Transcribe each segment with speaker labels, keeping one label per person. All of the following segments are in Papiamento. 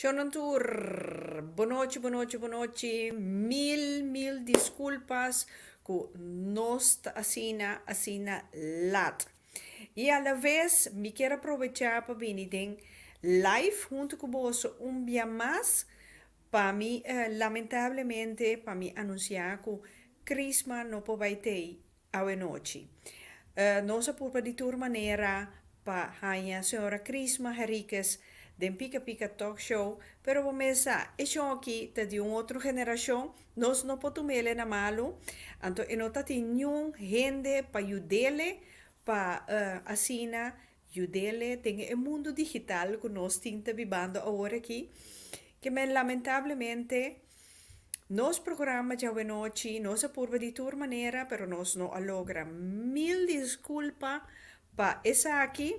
Speaker 1: Shownan tur, bo nochi, bo nochi, bo nochi, mil, mil disculpas cu nos ta asina, asina laat. Y a la vez mi kier a provecha pa bini den live hunto cu boso un bia mas pa mi lamentablemente pa mi anuncia cu Chrisma no por bay tey Awe nochi. Nos a purba di tur manera pa haña Señora Chrisma Heriquez den Pika Pika Talk Show, pero bo mes sa, e shon aki ta di un otro generashon, nos no por tumele na malu, anto e no ta tin niun hende pa yudele pa asina Yudele, den e mundu digital ku nos tin ta bibando aworakí, kimen lamentablemente nos programa djawenòchi nos a purba di tur manera pero nos no a logra. Mil diskulpa pa esaki,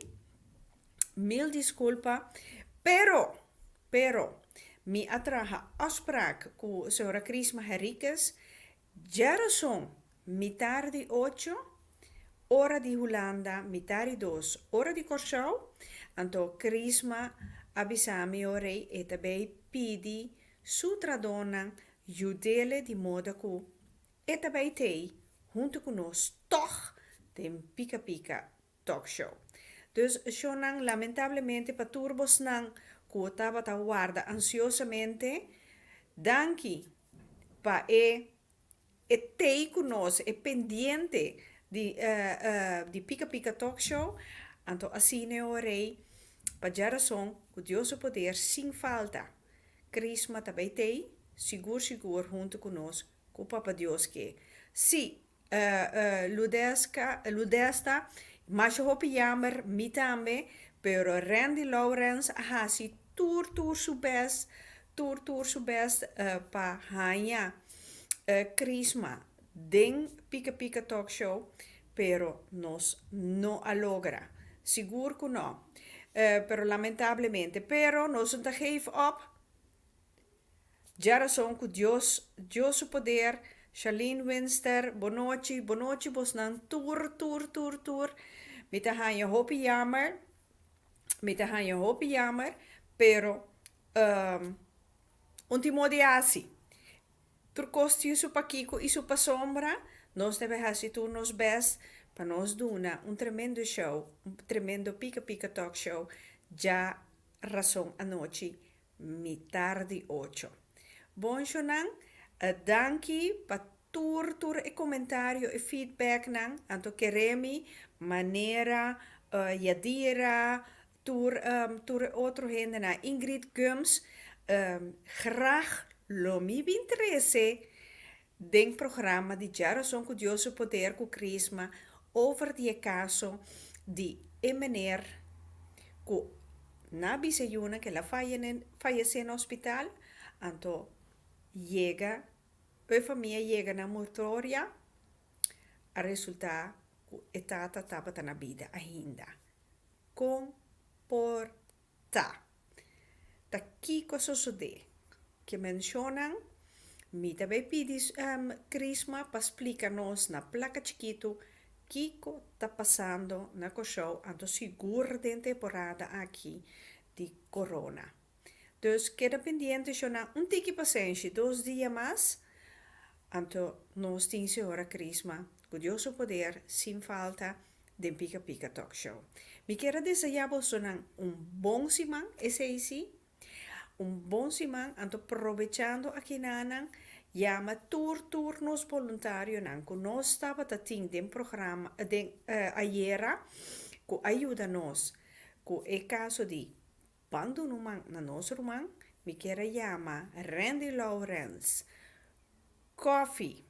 Speaker 1: mil diskulpa, pero, pero mi a traha afsprak ku señora Chrisma Henriquez, Djerason, mitar di ocho, ora di Hulanda, mitar di dos, ora di Kòrsou, anto Krisma a bisa mi ora e ta bai pidi su tradónan yud'ele di moda ku e ta bai t'ei huntu ku nos tòg den pika pika Talkshow. Dus shownan lamentablemente pa tur bosnan ku tabata warda ansiosamente. Danki pa e e tei ku nos, e pendiente di di Pika Pika Talkshow. Anto asi Neo Rey, pa dja rason, ku Dios su poder sin falta, Krisma ta bai tei, sigur sigur huntu ku nos, ku Papa Dios ke. Sí! Ludesta, Masha hopi jammer, mi tambe, pero Randy Lawrence a hasi tur tur su best, tur tur su best pa haña Chrisma den Pika Pika Talk Show, pero nos no a logra, sigur ku no, pero lamentablemente, pero nos no ta geef op. Dja rason ku Dios, Dios su poder, Charlene Winster, bonochi, bonochi bosnan tur, tur, tur, tur. Mi ta haña hopi yamer, mi ta haña hopi yamer, pero um un timo di hasi. Tur kos tin su pakiko i su pasombra, nos debe hasi tur nos bèst pa nos duna un tremendo show, un tremendo pika pika talk show, dja rason anochi Mitar di ocho. Bonshonan, danki pa tur tur e komentario, e feedbacknan. Anto keremi manera Yadira, tur tur e otro hendenan, Ingrid Gomes, grag lo mi bin trese. Den programa di Dja Rason ku Dios su Poder ku Krisma over di e kaso di e meneer ku na bisa e yunan ke el a fayesé na hospital, anto yega e famia yega na murtoria a resulta ku e tata tabata na bida ainda. Kon por Ta. Ta kiko a sosodé? Ke menshonan, Mi ta bai pidi Krisma pa splika nos na plaka chikitu kiko ta pasando na Kòrsou anto sigur den temporada aki di korona. Dus keda pendiente shona un tiki pasenshi dos dia mas anto nos tin Sehora Krisma ku Dios su poder sin falta den Pika Pika Talk Show. Mi kier a deseá bosonan un bon siman, esei sí, un bon siman, anto probechando akinanan yama tur tur nos boluntarionan ku nos tabata tin den programa, den ayera ku a yuda nos ku e kaso di Ban Dunuman na nos ruman, mi kier a yama Rendy Lourens, Kòfi,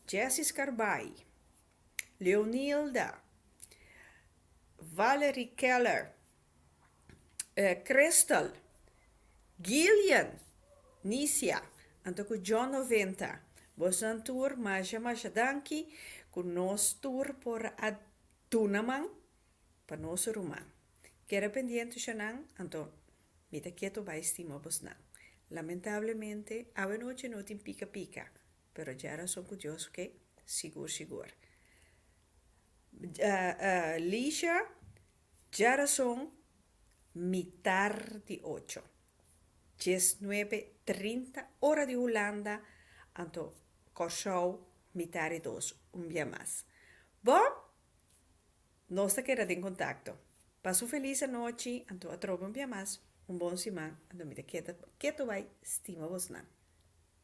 Speaker 1: Jessy Scarbay, Leonilda, Valerie Keller, Crystal, Gillian, Nicia, anto cu John Noventa, bosan tur masha masha danki cu nos tur por a duna man pa nos ruman. Keda pendiente Ushanan, anto mi ta keto bay stima bosnan. Lamentablemente awe nochi no tin pica pica. Pero dje rason ku Dios ke sigur sigur. Licia, Dje rason mitar di ocho, dies nuebe trinta, ora di Hulanda, anto Kòrsou mitar di dos, un bia mas. Bo? Nos ta keda den kontakto. Pasa un felis anochi, anto atrobe un bia mas, un bon siman, anto mi ta keda ketu bai stima bosnan.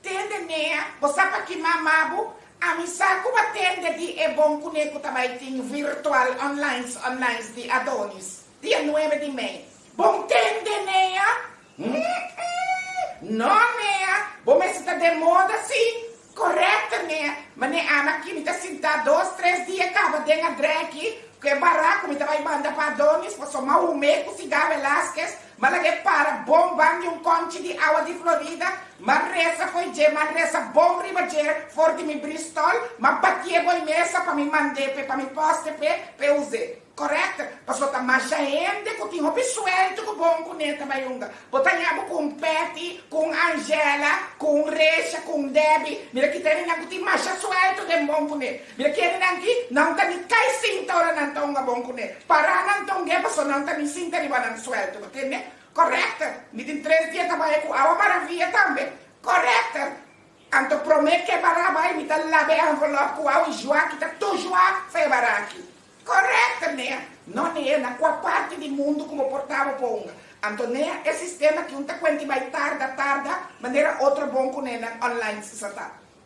Speaker 1: Tende nea, bo sa pa ki mama bo? Ami sa ku bo a tende di e bon kuné ku ta bai tin virtual onlines onlines di Adonis, dia nuebe di mei. Bon tende nea? Hm-m, no nea, bo mester ta den moda si. Correcto nea, mane ami aki mi ta sintá dos tres dia kaba den a dreki ku e bará ku mi ta bai banda pa Adonis, pasobra mahume ku siga Velazquez Ma laga e para bon ban di un konchi di awa di Florida, ma resa fo'i dje, ma resa bon riba dje for di mi bristòl, ma bati'é bo'i mesa pa mi mand'é p'e pa mi pòste p'e, p'e us'é. Correct? Pasobra ta masha hende ku tin hopi sueltu ku bon kuné ta bai hunga. Bo ta ña bo ku un Patty, ku un Angela, ku un Resha, ku un Debbie. Mira ki ta hende nan ku tin masha sueltu den bon kuné. Mi a keda nan aki, nan ta mi kai sinta ora nan ta hunga bon kuné. Pará nan ta hung'é pasó nan ta mi sinta riba nan suelto, bo tende? Correcte. Mi tin tres dia ta bai ku awa maravia tambe. Correcte. Anto promé ke bará bai mi ta laba e envelop ku awa i jua ki ta tu jua sa e bará aki. Correcte Nea. No Nea, na kua parti di mundu ku bo por ta bo por hunga? Anto Nea, e sistema ki un ta kuenti bai tarda, tarda, manera otro bon kunénan online sa ta.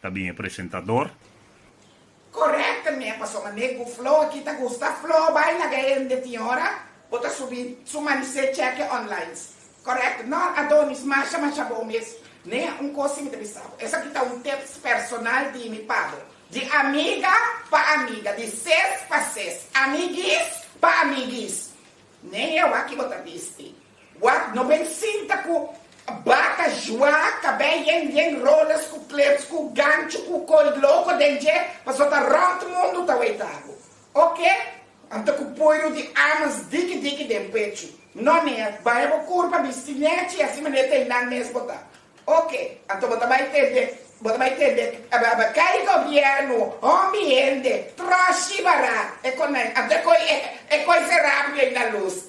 Speaker 1: Ta bin e presentador. Correct me paso mane cu flow aki ta gusta flow bay laga hende tin hora bo ta subi su manisé cheque onlines correct nor adonis masha masha bon mes ne un cos si mi ta bisa bo esaki ta un tips personal di mi pa bo di amiga pa amiga di ses pa ses amiguis pa amiguis ne e awaki bo ta bisti Wak no bay sinta cu baka jua cabé yen yen roles cu clips cu gancho cu coy loco den dje paso ta rond mundo ta way tabu ok am ta cu puiru di amas diki diki den pechu no neer baya bo cur pa bisti nechi y asi maner ta y nan mes bo ta ok anto bo ta bay tende bo ta bay tende cay gobierno hombi hende troshi barat e conai anto e coy e coy se rapi y nan luz.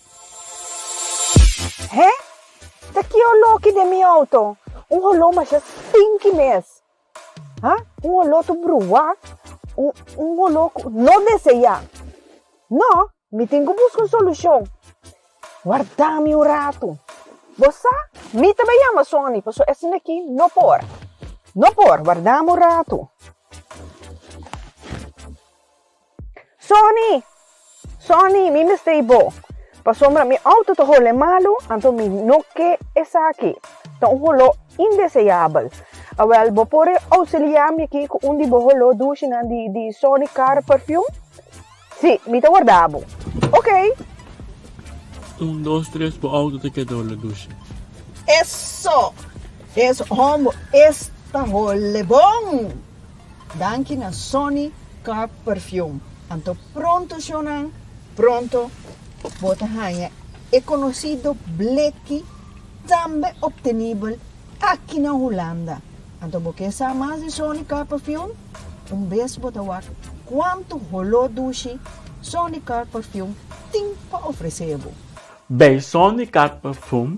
Speaker 1: He! Ta ki olóki den mi outo? Un oló masha stinki mes! Ha! Un oló tur bruwá, un, un oló ku no deseyá. No! Mi tin ku buska un solushon. Warda mi un ratu. Bo sa? Mi ta bai yama Sony, pasobra esei aki no por. No por. Warda mi un ratu. Sonny! Sonny! Mi mester i bo! Pasobra mi auto ta hole malu, anto mi no ke esaki. Ta un holó indeseabel. Awèl, bo por e ousiliá mi aki ku un di bo holó dushenan di di Sonny Car Perfume? Sí, mi ta wardá bo. Okey! Un, dos, tres, bo auto ta keda hole dushe. Eso! Es homber es ta hole bon! Danki na Sonny Car Perfume. Anto pronto shownan, pronto bo ta haña e konosido bleki tambe optenibel aki na Hulanda. Anto bo ke sa mas di Sonny Car Perfume? Un bes bo ta wak kuantu holó dushi Sonny Car Perfume tin pa ofresé bo. Bay Sonny Car Perfume